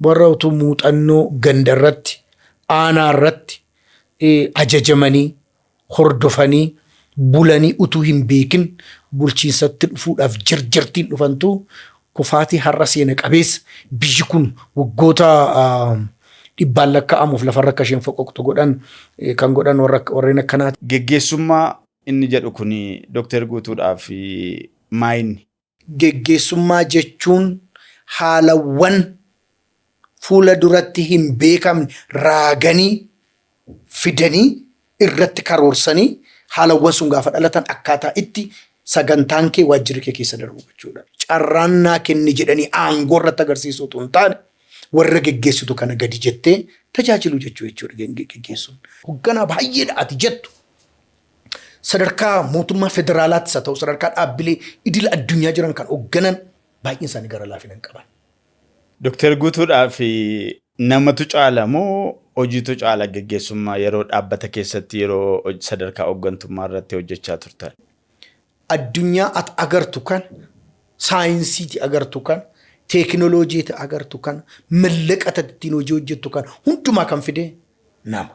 Warra utuu muuxannoo gandarratti, aanaarratti ajajamanii, hordofanii, bulanii utuu hin beekin bulchiinsatti dhufuudhaaf jarjartiin dhufantu kufaatii har'a seena qabeessa biyyi kun waggoota dhibbaan lakkaa'amuuf lafarra akka isheen foqoqxu godhan kan godhan warreen akkanaati. Geggeessummaa inni jedhu kun Doktar Guutuudhaaf maayinni? Geggeessummaa jechuun haalawwan fuula duratti hin beekamne raaganii, fidanii, irratti karoorsanii haalawwan sun gaafa dhalatan akkaataa itti sagantaan kee waajjirri kee keessa darbu gochuudha. Carraan naa kenni jedhanii aangoo irratti agarsiisuu utuu hin taane warra geggeessitu kana gadi jettee tajaajiluu jechuu jechuudha geggeessuun. Hogganaa baay'eedha ati jettu sadarkaa mootummaa federaalaattis haa ta'u sadarkaa dhaabbilee idila addunyaa jiran kan hoogganan baay'een isaanii gara laafina hin qaban. Doktar Guutuudhaaf namatu caala moo hojiitu caala geggeessummaa yeroo dhaabbata keessatti yeroo hoj- sadarkaa hooggantummaa irratti hojjechaa turtan? addunyaa at agartu kan saayinsiiti agartu kan teekinooloojiiti agartu kan mallaqa ati ittiin hojii hojjettu kan hundumaa kan fide nama.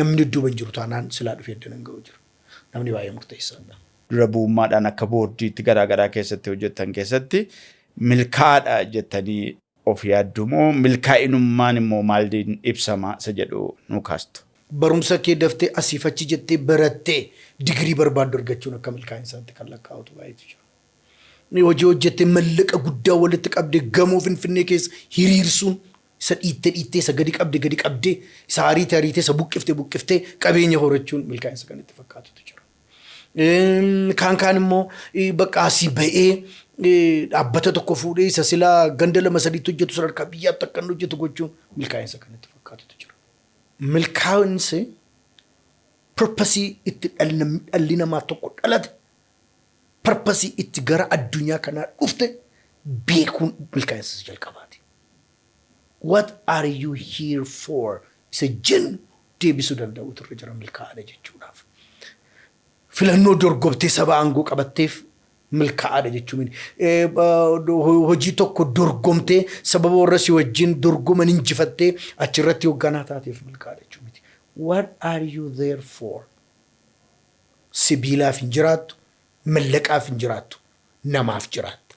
Namni dudduuba hin jiru taanaan silaa dhufee iddoon hin ga'u jiru. Namni baay'ee murteessaa dha. Dura bu'ummaadhaan akka boordiitti garaa garaa keessatti hojjettan keessatti milkaa'aa dha jettanii of yaadduu moo milkaa'inummaan immoo maaliin ibsama isa jedhu nuu kaastu? Barumsa kee daftee asiif achi jettee barattee digirii barbaaddu argachuun akka milkaa'insaatti kan lakkaa'utu baay'eetu jira. Hojii hojjettee mallaqa guddaa walitti qabdee gamoo Finfinnee keessa hiriirsuun Isa dhiitte dhiittee, isa gadi qabde gadi qabdee, isa ariite ariitee, isa buqqifte buqqiftee qabeenya horachuun milkaa'insa kan itti fakkaatutu jira. Kaan kaan immoo bakka asii ba'ee dhaabbata tokko fuudhee isa silaa ganda lama sadiitti hojjetu sadarkaa biyyaatti akka inni hojjetu gochuun milkaa'insa kan itti fakkaatutu jira. Milkaa'insi purpasii itti dhalli namaa tokko dhalate purpasii itti gara addunyaa kanaa dhufte beekuun milkaa'insa jalqabaati. what are you here for isa jennu deebisuu danda'uutu irra jira milkaa'aadha jechuudhaaf. Filannoo dorgomtee saba aangoo qabatteef milkaa'aadha jechuu miti. Hojii tokko dorgomtee sababa warra si wajjin dorgoman injifattee achirratti hoogganaa taateef milkaa'aadha jechuu miti. What are you there for? Sibiilaaf hin jiraattu, mallaqaaf hin jiraattu, namaaf jiraatta.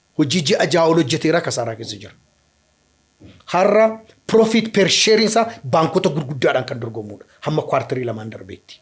Hojii ji'a ja'a ol hojjeteera kasaaraa keessa jira. Har'a profit per share isaa baankota gurguddaadhaan kan dorgomuudha hamma kwartarii lamaan darbeetti.